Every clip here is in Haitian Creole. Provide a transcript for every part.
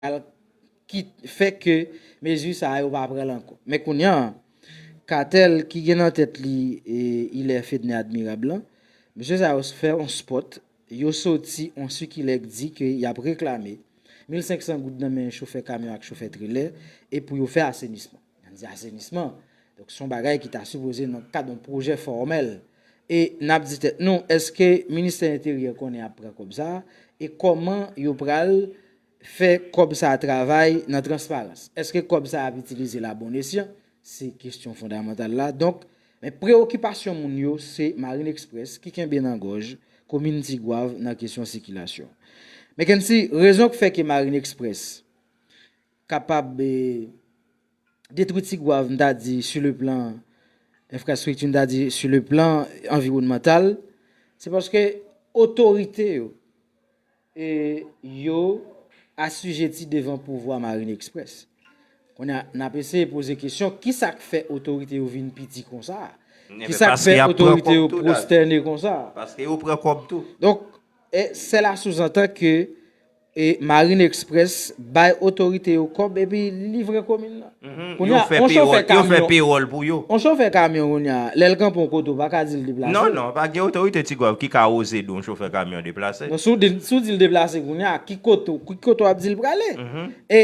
al kit fè ke mezi sa yo pa pran l ankò. Men kounya, katèl ki gen nan tèt li Hilaire Fedner Admirable lan, mesye sa yo fè yon spot, yo soti yon sikilè k di ke y ap reklame mil senk san goud nan men chofè kamyon ak chofè trelè e pou yo fè asenisman. Nan di asenisman, donk son bagay ki ta sipoze nan kad yon pwojè fòmèl. E nap di tèt nou, eske ministè enteryè konnen ap pran kòb sa, e kòman yo pral fè kòb sa travay nan transparans. Eske kòb sa ap itilize la bon esyan, se kestyon fondamantal la. Donk, men prewokipasyon moun yo se Marine Express ki kenbe nan gòj komin Tigwav nan kesyon sikilasyon. Mekensy, rezon k fè ke Marine Express kapab detwi Tigwav m ta di su le plan enfrastrikti m ta di su le plan anviwònmantal se paske otorite yo e yo asijeti devan pouvwa Marine Express kounye a n ap eseye poze kesyon kisa k fè otorite yo vin piti konsa kisa k fè otorite yo pwostène konsa donk sela souzantan ke E marine express bay otorite yo kòb epi livre komin nan. Yo fè pewòl, yo fè pewòl pou yo. On chofè kamyon kounya lèl kanpe on kote ou pa ka dil deplase. Non non, pa gen otorite Tigwav ki ka oze di on chofè kamyon deplase. Non si w di l deplase kounya ki kote w ap di l prale. E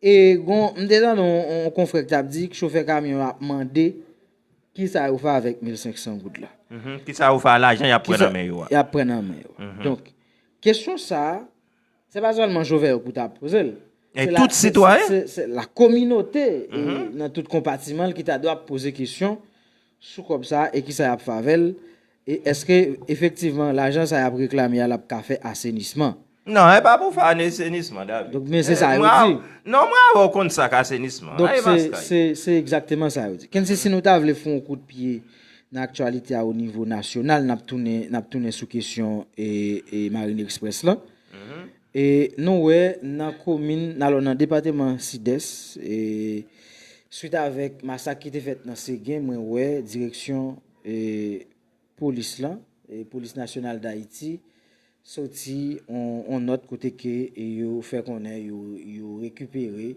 E gon, m te tande yon konfrè ki t ap di k chofè kamyon yo ap mande kisa yo fè avèk 1500 goud la. Kisa yo fè a lajan y ap pran nan men yo a. Y ap pran nan men yo a. Donk, kesyon sa a, se pa sèlman chofè yo pou ta poze l. E tout sitwayen. Se la kominote nan tout konpatiman l ki ta dwa poze kesyon sou kòb sa a e kisa y ap fè avè l. E eske efektivman lajan sa yap reklame a lap ka fè asenisman? Non e pa pou fè anesenisman David. Donk men se sa yo di. Non mwen avè w konn sa k asenisman. Donk se se se egzakteman sa yo di. Kennse si nou ta vle fon w kout pye nan aktyalite a o nivo nasyonal nap tounen nap tounen sou kesyon e e marine express lan. E nou wè nan komin alò nan depateman sidès e swit avèk masak ki te fèt nan Segen mwen wè direksyon. polis lan, Polis Nasyonal Dayiti soti yon nòt kote ke yo fè konnen yo rekipere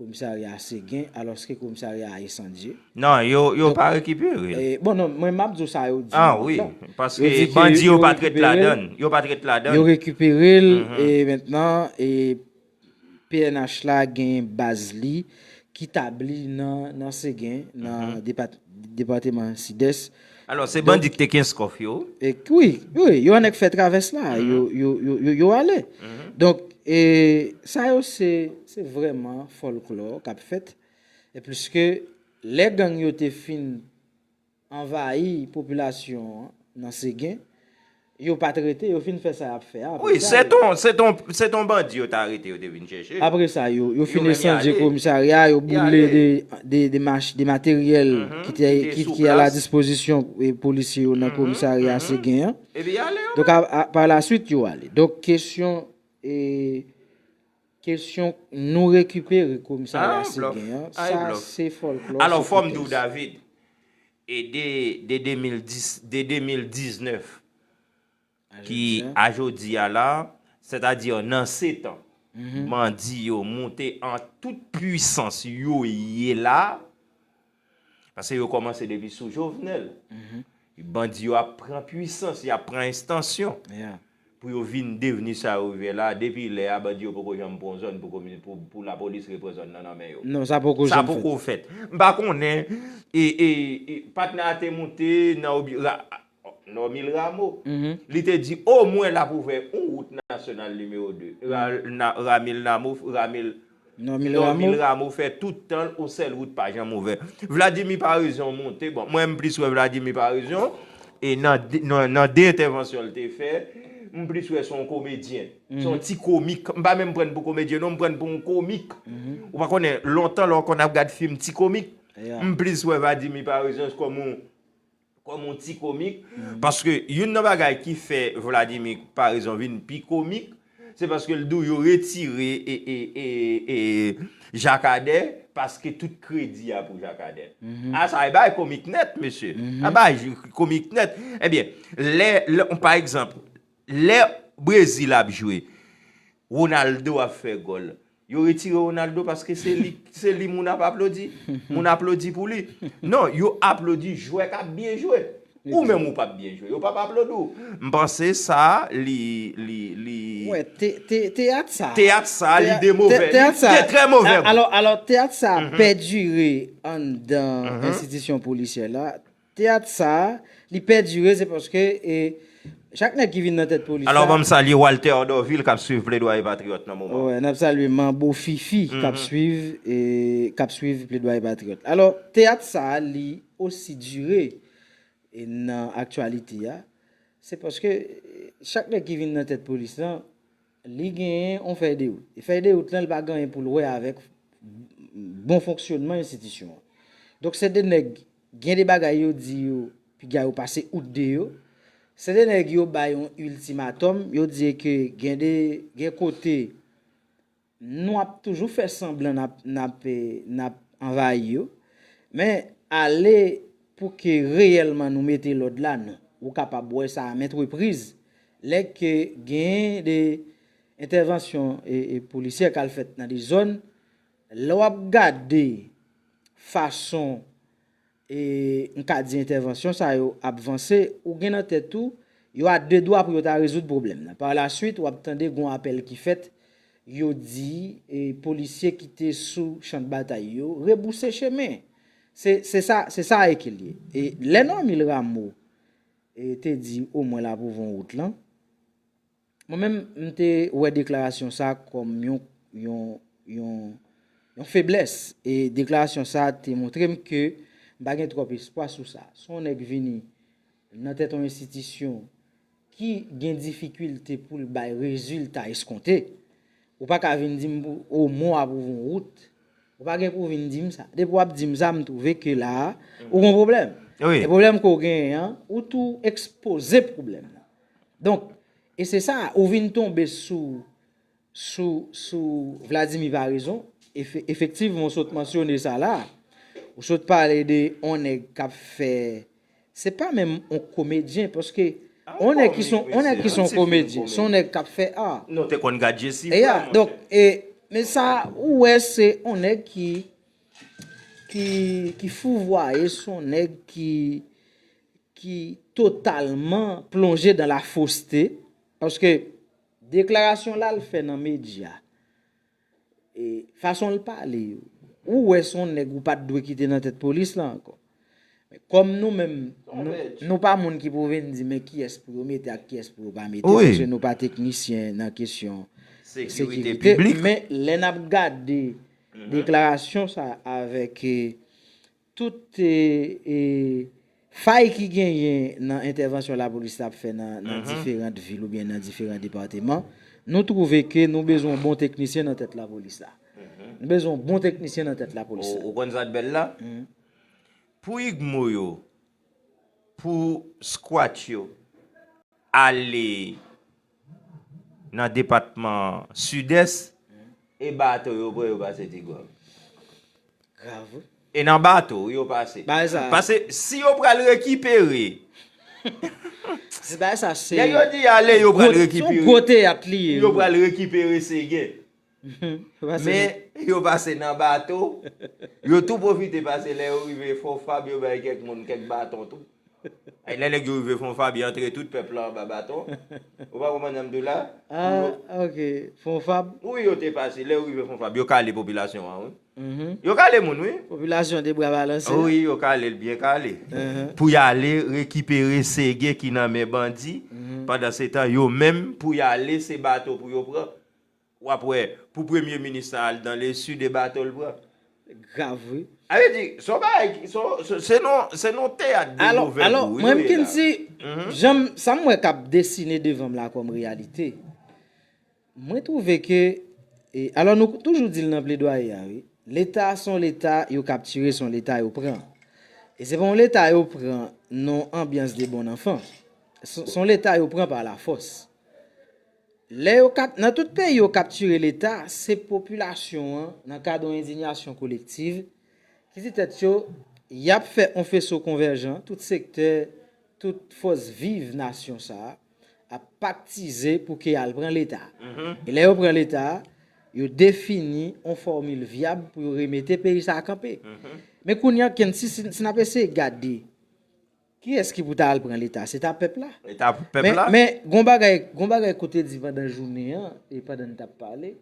komisarya Segen alòske komisarya a esandye. Non, yo pa rekipere l. Bon non, mwen map di w sa yo di nan nòt lan. Ah wi, paske bandi yo pat ret ladann. Yo pat ret ladann. Yo rekipere l, e mentnan, e pnh la gen baz li ki tabli nan Segen, nan depateman Sidès. Alò, se bandi ki te Kenskòf yo? Wi, wi, yo annik fè travès la, yo ale. Donk, sa yo se vrèman fòlklò k ap fèt, pliske lè gang yo te fin. Anvayi popilasyon an nan Segen, yo pat rete, yo fin fè sa yap fè a, apre sa yo. Wi, se ton, se ton bandi yo ta arete yo te vin chèche. Apre sa yo, yo fin ensandye komisarya a, yo boule de materyèl ki te, ki a la dispozisyon polisye yo nan komisarya Segen an. Epi y ale yo menm. Donk par la swit yo ale. Donk kesyon e. Kesyon Nou rekipere komisarya se gen an, sa se fòlklò se pwotex. E de 2010, de 2019 ki a jodi a la, sètadi nan setan bandi yo moute an tout pwisans yo ye la, Paske yo komanse depi sou Jovenel. Bandi yo ap pran pwisans, y ap pran estansyon. Pou yo vin devni sa yo ye la. Depi lè a, bandi yo poko janm pran yon zòn pou lapolis repran zòn nan nan men yo. Non, sa poko janm fèt. Sa poko fèt. M pa konnen, patnè a te moute nan. Normil Rameau, li te di o mwen l ap ouvè yon wout nasyonal nimewo 2. Ramil Namou, Ramil. Normil Rameau. Normil Rameau fè tout tan l yon sèl wout pa janm ouvè. Vladimir Paraison monte, bon mwen m plis wè Vladimir Paraison e nan 2 entèvansyon l te fè, m plis wè se yon komedyen. Se yon ti komik. M pa menm pran n pou komedyen non, m pran n pou yon komik. Ou pa konnen, lontan lè w konn ap gad fim ti komik, m plis wè Vadimir Paraison kòm yon Kòm yon ti komik, paske youn nan bagay ki fè Vladimir Paraison vin pi komik, se paske l di w yo retire Jakadè paske tout kredi a pou Jakadè. A sa e bagay komik nèt mesye. A bagay komik nèt. Ebyen, lè, pa egzanp, lè Brezil ap jwe, Ronaldo ap fè gòl, Yo retire Ronaldo paske se li moun ap aplodi? Moun aplodi pou li? Non, yo aplodi jwè kap byen jwe. Ou menm ou pap byen jwe, yo pap aplodi w. M panse sa li, li, li. Wè, teyat sa. Teyat sa li de move. Teyat sa. Li de trè move. Alò, alò teyat sa pèdire anndan enstitisyon polisyè la. Teyat sa li pèdire se paske e chak nèg ki vin nan tèt polis la. Alò banm salye Walter Dorvil kap swiv Pledwaye Patriyòt nan moman. Wè nap salye Manbo Fifi kap swiv e kap swiv Pledwaye Patriyòt. Alò teyat sa li osi dire e nan aktyalite a se paske chak nèg ki vin nan tèt polis lan Li genyen on fèy de wout. E fèy de wout lan li pa gen anyen pou l wè avèk bon fonksyonman enstitisyon an. Donk se de nèg gen de bagay yo di yo piga yo pase out de yo. Se de nèg yo bay on iltimatòm, yo di e ke gen de, gen kote nou ap toujou fè sanblan nap, nap, nap anvayi yo. Men ale pou ke reyèlman nou mete lòd la non. Ou kapab wè sa a mèt repriz. Lè ke gen de entèvansyon polisyè kal fèt nan de zòn, lè wap gade fason e m ka di entèvansyon sa yo ap vanse, ou gen nan tèt ou, yo a de dwa pou yo ta rezoud pwoblèm nan. Par la swit wap tande gon apèl ki fèt, yo di e polisye ki te sou chan de batay yo rebouse chemen. Se sa, se sa e ke l ye. E lè Normil Rameau. te di o mwen la pou von wout lan. Mwen menm m te wè deklarasyon sa kòm yon feblès e deklarasyon sa te montre m ke m pa gen twòp espwa sou sa. Si yon nèg vini nan tèt yon enstitisyon ki gen difikilte pou l bay rezilta eskonte, Ou pa ka vin di m pou ou mo a pou von wout. Ou pa gen pou vin di m sa. Depi w ap di m sa, m twouve ke la a, ou gon pwoblèm. E pwoblèm ke w genyen an, ou tou ekspoze pwoblèm nan. Donk, e se sa, ou vin tonbe sou, sou, sou Vladimir Paraison. Efektivman, ou sot mansyone sa la a. Ou sot pale de yon nèg k ap fè. Se pa menm on komedyen paske on nèg ki son on nèg ki son komedyen son nèg kap fè art. Non te konn gad je si vre mwen te. E ya donk men sa ou wè se on nèg ki ki ki fouvwaye son nèg ki ki totalman plonje dan la foste paske deklarasyon lal fè nan medya. Fason l pale yo, ou wè s on nèg ou pa t dwe kite nan tèt polis la ankò. Men kòm nou menm, nou pa moun ki pou vin di men kiyès pou yo mete ak kiyès pou yo pa mete, paske nou pa teknisyen nan kesyon sekirite. Men lè n ap gade deklarasyon sa avèk tout fay ki genyen nan entèvansyon lapolis la ap fè nan diferant vil oubyen nan diferan depateman, nou twouve ke nou bezwen yon bon teknisyen nan tèt lapolis la. Nou bezwen yon bon teknisyen nan tèt lapolis la. Ou konn sa k bèl la? Pou igmo yo, pou squat yo ale. nan depatman Sidès. E bato yo pran yo pase ti gob. Grav wi. E nan bato wi yo pase. Bagay sa. Pase si yo pral rekipere. Se bagay sa se. Nèg yo di ale yo pral rekipere. Son gwo teyat li ye. Yo pral rekipere segen. Men, yo pase nan bato, yo tou pwofite pase lè yo rive Fonfab yo bay kèk moun kèk baton tou. Ay lè nèg yo rive Fonfab y antre tout pèp la anba baton. Ou pa konprann sa m di w la? Ah ok, Fonfab. Wi yo te pase, lè yo rive Fonfab yo kale popilasyon an wi. Yo kale moun wi. Popilasyon te bra balanse. Wi yo kale l byen kale. Pou y ale rekipere Sege ki nan men bandi, pandansetan yo menm pou y ale se bato pou yo pran. Wap wè pou premye minis la al dan le sud e bato l pran. Grav wi. A vle di son bagay ki son se non se non teyat de movè gou wi nou ye la. Alò mwen mknn si janm sa m wè kap desine devan m la kòm reyalite mwen twouve ke alò nou toujou di l nan pledwaye a wi leta son leta yo kaptire son leta yo pran e se pa yon leta yo pran non anbyans de bon anfan son leta yo pran pa la fòs. Lè yo kap nan tout peyi yo kaptire leta, se popilasyon an, nan kad on endinyasyon kolektiv, ki di tèt yo, yap fè on feso konvèjan, tout sektè, tout fòs viv nasyon sa a, ap paktize pou ke al pran leta. E lè yo pran leta, yo defini on fòmil vyab pou yo remete peyi sa a kanpe. Men kounye an knsi, si nap eseye gade, Kiyès ki pou ta al pran leta? Se ta pèp la. Leta pou pèp la. Men, gon bagay, gon bagay ke w te di pandan jounen an, e pandan n t ap pale,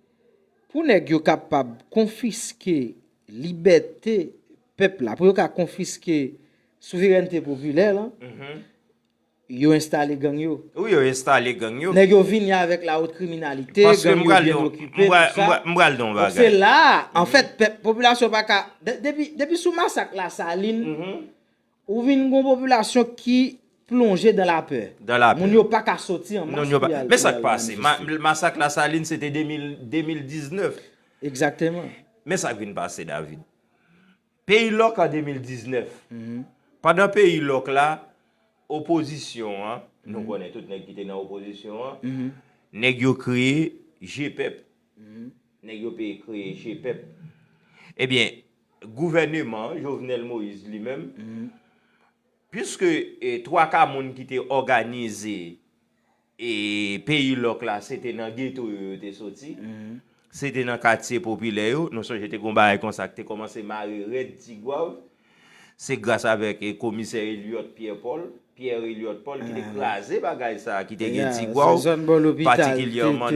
pou nèg yo kapab konfiske libète pèp la, pou yo ka konfiske souverènte popilè lan, yo enstale gang yo. Wi, yo enstale gang yo. Nèg yo vini avèk la wot kriminalite, gang yo byen okipe, tout sa. M pral di w yon bagay. Donk se la a, anfèt, pèp, popilasyon pa ka, depi, depi sou masak Lasalin, Ou vin gon popilasyon ki plonje dan la pè. Dan la pè. Moun yo pa ka soti an mas pou y al. Men sa k pase? Masak Lasalin se te 2019. Egzakteman. Men sa k vin pase David. Peyi lòk an 2019. Pandan peyi lòk la, opozisyon an, nou konnen tout nèg ki te nan opozisyon an, nèg yo kreye G-pep. Nèg yo peye kreye G-pep. Ebyen, Gouvèneman Jovenel Moïse li menm, piske twaka moun ki te òganize peyi lòk la se te nan geto yo yo te soti, se te nan katye popilè yo, nou sonje te gen yon bagay konsa ki te kòmanse mare rèd Tigwav, se gras avèk komisè Eliot Pierre Paul, Pierre Eliot Paul ki te kraze bagay sa a ki te gen Tigwav, patikilyèman.